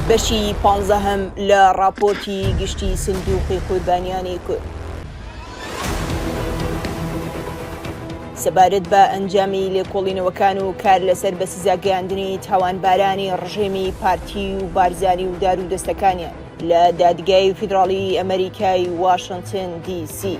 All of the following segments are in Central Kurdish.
بەشی پانزەهەم لە ڕاپۆرتی گشتی سندوقی قوربانیانی کورد سەبارەت بە ئەنجامی لێکۆڵینەوەکان و کار لەسەر بە سزاگەیاندنی تاوانبارانی ڕژێمی پارتی و بارزانی و دار و دەستەکانیان لە دادگای فیدراڵی ئەمریکای واشنتن دی سی.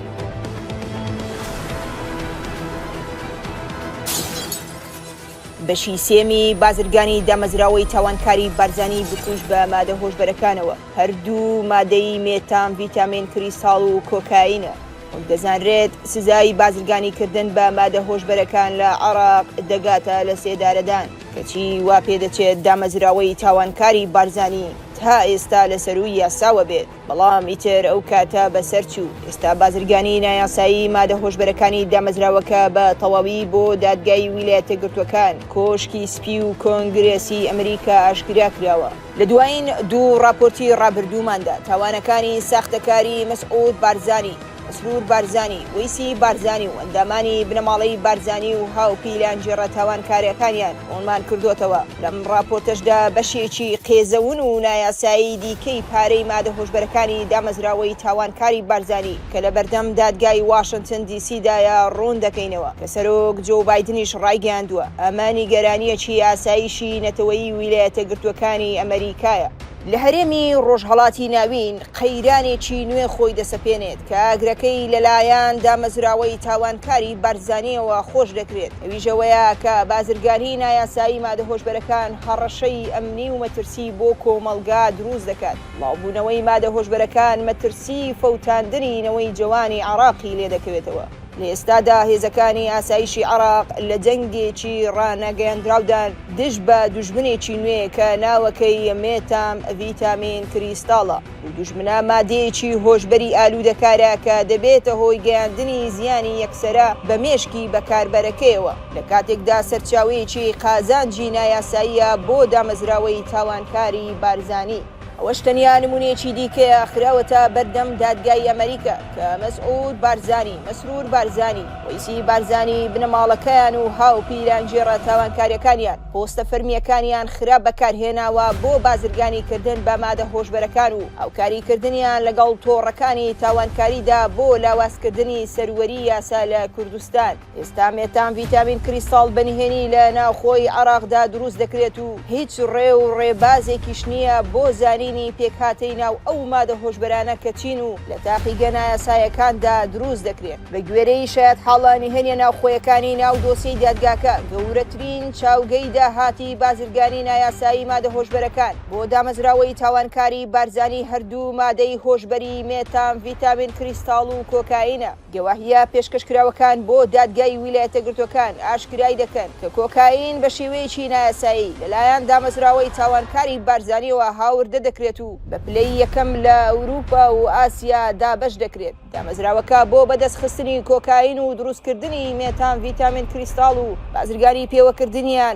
بەشی سێمی بازرگانی دامەزراوەی تاوانکاری بارزانی بکوژ بە مادە هۆشبەرەکانەوە، هەردوو مادەی مێتامڤیتامین کریستاڵ و کۆکایینە، وەک دەزانرێت سزای بازرگانیکردن بە مادە هۆشبەرەکان لە عێراق دەگاتە لەسێدارەدان، کەچی واپێدەچێت دامەزراوەی تاوانکاری بارزانی تا ئێستا لەسەرووی یاساوە بێت. بەڵام ئیتر ئەو کاتە بەسەر چوو، ئێستا بازرگانیی نایاسایی مادە هۆشبەرەکانی دامەزراوەکە بە تەواوی بۆ دادگای ویلایەتەگرتووەکان، کۆشکی سپی و کۆنگرێسی ئەمریکا ئاشکرا کراوە. لە دوایین دوو ڕاپۆرتی ڕابردووماندا تاوانەکانی ساختەکاریی مەسعود بارزانی، مەسرور بارزانی، وەیسی بارزانی و ئەندامانی بنەماڵەی بارزانی و هاوپیلانگێڕە تاوانکارەکانیان ڕوونمان کردۆتەوە، لەم ڕاپۆرتەشدا بەشێکی قێزەون و نایاسایی دیکەی پارەی مادە هۆشبەرەکانی دامەزراوەی تاوانکاری بارزانی کە لە بەردەم دادگای واشنتن دی سی دایە ڕوون دەکەینەوە کە سەرۆک جۆو بایدنیش ڕایگەیاندووە ئەمە نیگەرانییەکی ئاسایشی نەتەوەیی ویلایەتە گرتووەکانی ئەمەریکایە. لە هەرێمی ڕۆژهەڵاتی ناوین قەیرانێکی نوێ خۆی دەسەپێنێت کە ئاگرەکەی لەلایەن دامەزراوەی تاوانکاری بارزانییەوە خۆش دەکرێت، ئەویش ئەوەیە کە بازرگانیی نایاسایی مادە هۆشبەرەکان هەڕەشەی ئەمنی و مەترسی بۆ کۆمەڵگا دروست دەکات، بڵاوبوونەوەی مادە هۆشبەرەکان مەترسیی فەوتاندنی نەوەی جەوانی عێراقی لێدەکەوێتەوە. لە ئێستادا هێزەکانی ئاسایشی عێراق لە جەنگێکی ڕانەگەیەندراودان دژ بە دوژمنێکی نوێ کە ناوەکەی مێتام ڤیتامین کریستاڵە و دوژمنە مادەیەکی هۆشبەری ئالوودەکارە کە دەبێتە هۆی گەیاندنی زیانی یەکسەرە بە مێشکی بەکاربەرەکەیەوە لە کاتێکدا سەرچاوەیەکی قازانجی نایاساییە بۆ دامەزراوەی تاوانکاری بارزانی. ئەوەش تەنیا نمونەیەکی دیکەیە خراوەتە بەردەم دادگای ئەمەریکا کە مەسعود بارزانی، مەسرور بارزانی، وەیسی بارزانی، بنەماڵەکەیان و هاوپیرانگێڕە تاوانکاریەکانیان پۆستە فەرمیەکانیان خراپ بەکارهێناوە بۆ بازرگانی کردن بە مادە هۆشبەرەکان و هاوکاری کردنیان لەگەڵ تۆڕەکانی تاوانکاریدا بۆ لاوازکردنی سەروەری یاسا لە کوردستان. ئێستا مێتام ڤیتامین کریستاڵ بە نهێنی لە ناوخۆی عێراقدا دروست دەکرێت و هیچ ڕێ و ڕێبازێکیش نییە بۆ زانینی پێکهاتەی ناو ئەو مادە هۆشبەرانە کە چین و لە تاقیگە نایاسایەکاندا دروست دەکرێن. بە گوێرەی شایەتحاڵە نهێنییە ناوخۆیەکانی ناو دۆسیەی دادگاکە، گەورەترین چاوگەی داهاتی بازرگانی نایاسایی مادە هۆشبەرەکان بۆ دامەزراوەی تاوانکاری بارزانی هەردوو مادەی هۆشبەری مێتام ڤیتامین کریستاڵ و کۆکاینە. گەواهییە پێشکەشکراوەکان بۆ دادگای ویلایەتەگرتووەکان ئاشکرای دەکەن کە کۆکایین بە شێوەیەکی نایاسایی لەلایەن دامەزراوەی تاوانکاری بارزانییەوە هاوردە دەکرێت و بە پلەی یەکەم لە ئەوروپا و ئاسیا دابەش دەکرێت. دامەزراوەکە بۆ بەدەستخستنی کۆکایین و دروستکردنی مێتامڤیتامین کریستاڵ و بازرگانی پێوەکردنیان،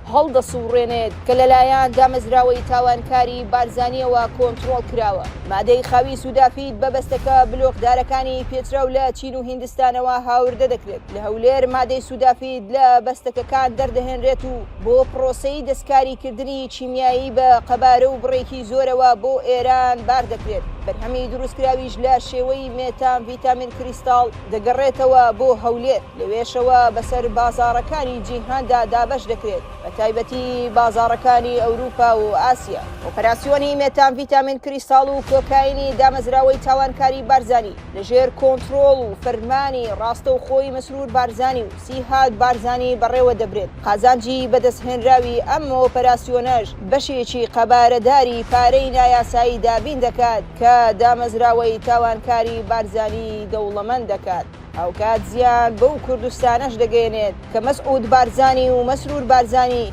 هەڵدەسوڕێنێت کە لەلایەن دامەزراوەی تاوانکاری بارزانیەوە کۆنترۆڵ کراوە. مادەی خاوی سودافیت بە بەستەکە بلۆکدارەکانی پێچراو لە چین و هیندستانەوە هاوردە دەکرێت. لە هەولێر مادەی سودافیت لە بەستەکەکان دەردەهێنرێت و بۆ پرۆسەی دەستکاریکردنی کیمیایی بە قەبارە و بڕێکی زۆرەوە بۆ ئێران باردەکرێت. بەرهەمی دروستکراویش لە شێوەی مێتامڤیتامین کریستاڵ دەگەڕێتەوە بۆ هەولێر. لەوێشەوە بەسەر بازاڕەکانی جیهاندا دابەش دەکرێت، بەتایبەتی بازاڕەکانی ئەوروپا و ئاسیا. ئۆپەراسیۆنی مێتامڤیتامین کریستاڵ و کۆکاینی دامەزراوەی تاڵانکاری بارزانی لەژێر کۆنترۆڵ و فەرمانی ڕاستەوخۆی مەسرور بارزانی و سیهاک بارزانی بەڕێوە دەبرێت، قازانجی بەدەستهێنراوی ئەم ئۆپەراسیۆنەش بەشێکی قەبارەداری پارەی نایاسایی دابین دەکات کە دامەزراوەی تاوانکاری بارزانی دەوڵەمەند دەکات. هاوکات زیان بەو کوردستانەش دەگەیەنێت کە مەسعود بارزانی و مەسرور بارزانی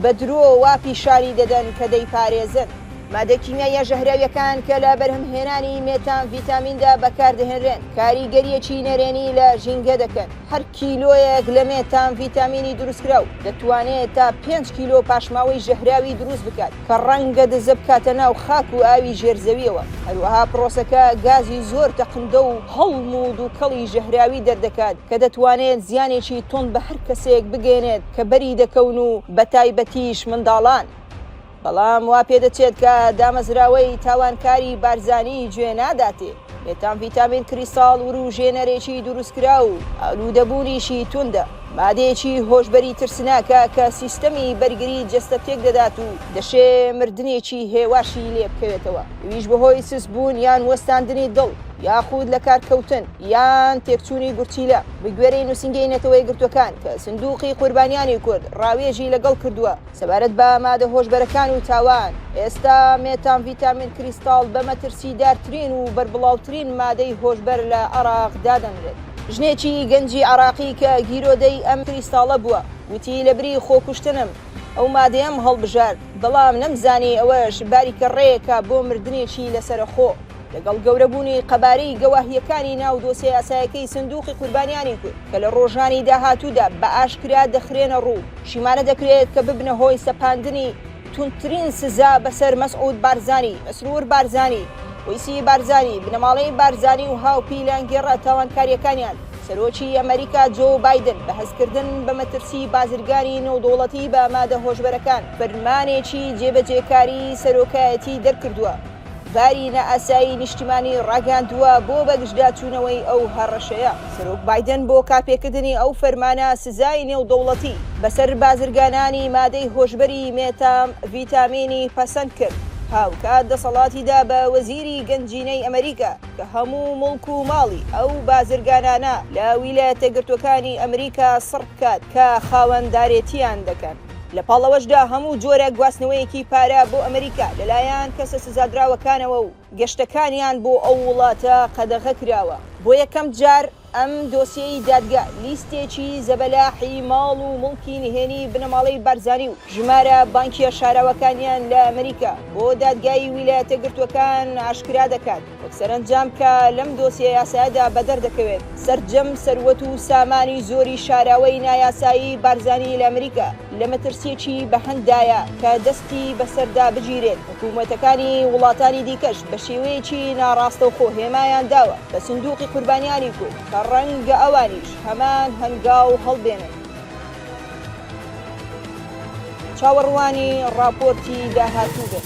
بە درۆ وا پیشانی دەدەن کە دەیپارێزن. مادە کیمیاییە ژەهراویەکان کە لە بەرهەمهێنانی مێتامڤیتامیندا بەکاردەهێنرێن کاریگەریەکی نەرێنی لە ژینگە دەکەن، هەر کیلۆیەک لە مێتامڤیتامینی دروستکراو دەتوانێت تا پێنج کیلۆ پاشماوەی ژەهراوی دروست بکات. کە ڕەنگە دزە بکاتە ناو خاک و ئاوی ژێر زەویەوە، هەروەها پرۆسەکە گازی زۆر تەقندە و هەڵم و دووکەڵی ژەهراوی دەردەکات کە دەتوانێت زیانێکی توند بە هەر کەسێک بگەیەنێت کە بەری دەکەون و بەتایبەتیش منداڵان. بەڵام وا پێدەچێت کە دامەزراوەی تاوانکاری بارزانی جوێ ناداتێ. مێتان ڤیتامین کریستاڵ وروژێنەرێکی دروستکراو و ئالوودەبوونیشی توندە، مادەیەکی هۆشبەری ترسناکە کە سیستەمی بەرگری جەستە تێکدەدات و دەشێ مردنێکی هێواشی لێ بکەوێتەوە، ئەویش بەهۆی سستبوون یان وەستاندنی دڵ یاخود لەکارکەوتن یان تێکچوونی گورچیلە. بەگوێرەی نووسینگەی نەتەوەیەکگرتووەکان کە سندووقی قوربانیانی کورد ڕاوێژی لەگەڵ کردووە، سەبارەت بە مادە هۆشبەرەکان و تاوان، ئێستا مێتامڤیتامین کریستاڵ بە مەترسیدارترین و بەربڵاوترین مادەی هۆشبەر لە عێراق دادەنرێت. ژنێکی گەنجی عێراقی کە گیرۆدەی ئەم کریستاڵە بووە، وتی، لەبری خۆکوشتنم ئەو مادەیەم هەڵبژارد، بەڵام نەمزانی ئەوەش باریکە ڕێیەکە بۆ مردنێکی لەسەرەخۆ. لەگەڵ گەورەبوونی قەبارەی گەواهییەکانی ناو دۆسیە یاسایەکەی سندووقی قوربانیانی کورد کە لە ڕۆژانی داهاتوودا بە ئاشکرا دەخرێنە ڕوو، شیمانە دەکرێت کە ببنە هۆی سەپاندنی توندترین سزا بەسەر مەسعود بارزانی، مەسرور بارزانی، وەیسی بارزانی، بنەماڵەی بارزانی و هاوپیلانگێڕە تاوانکارییەکانیان. سەرۆکی ئەمەریکا جۆ بایدن بە هەستکردن بە مەترسیی بازرگانی نێودەوڵەتی بە مادە هۆشبەرەکان، فەرمانێکی جێبەجێکاری سەرۆکایەتیی دەرکردووە. باری نائاسایی نیشتیمانی ڕاگەیاندووە بۆ بەگژداچوونەوەی ئەو هەڕەشەیە. سەرۆک بایدن بۆ کارپێکردنی ئەو فەرمانە سزای نێودەوڵەتی بەسەر بازرگانانی مادەی هۆشبەری مێتام ڤیتامینی پەسەند کرد، هاوکات دەسەڵاتی دا بە وەزیری گەنجینەی ئەمریکا کە هەموو موڵک و ماڵی ئەو بازرگانانە لە ویلایەتە گرتووەکانی ئەمریکا سڕ بکات کە خاوەندارێتییان دەکەن. لە پاڵ ئەوەشدا هەموو جۆرە گواستنەوەیەکی پارە بۆ ئەمریکا لەلایەن کەسە سزادراوەکانەوە و گەشتەکانیان بۆ ئەو وڵاتە قەدەغە کراوە. بۆ یەکەم جار ئەم دۆسیەی دادگا لیستێکی زەبەلاحی ماڵ و موڵکی نهێنی بنەماڵەی بارزانی و ژمارە بانکیە شاراوەکانیان لە ئەمریکا بۆ دادگای ویلایەتە گرتووەکان ئاشکرا دەکات. سەرەنجام کە لەم دۆسیە یاسایەدا بەدەر دەکەوێت، سەرجەم سەروەت و سامانی زۆری شاراوەی نایاسایی بارزانی لە ئەمریکا لە مەترسییەکی بەهەند دایە کە دەستی بەسەردا بگیرێت، حکوومەتەکانی وڵاتانی دیکەش بە شێوەیەکی ناڕاستەوخۆ هێمایان داوە بە سندووقی قوربانیانی کورد کە ڕەنگە ئەوانیش هەمان هەنگاو هەڵبێنن. چاوەڕوانی ڕاپۆرتی داهاتوو بن.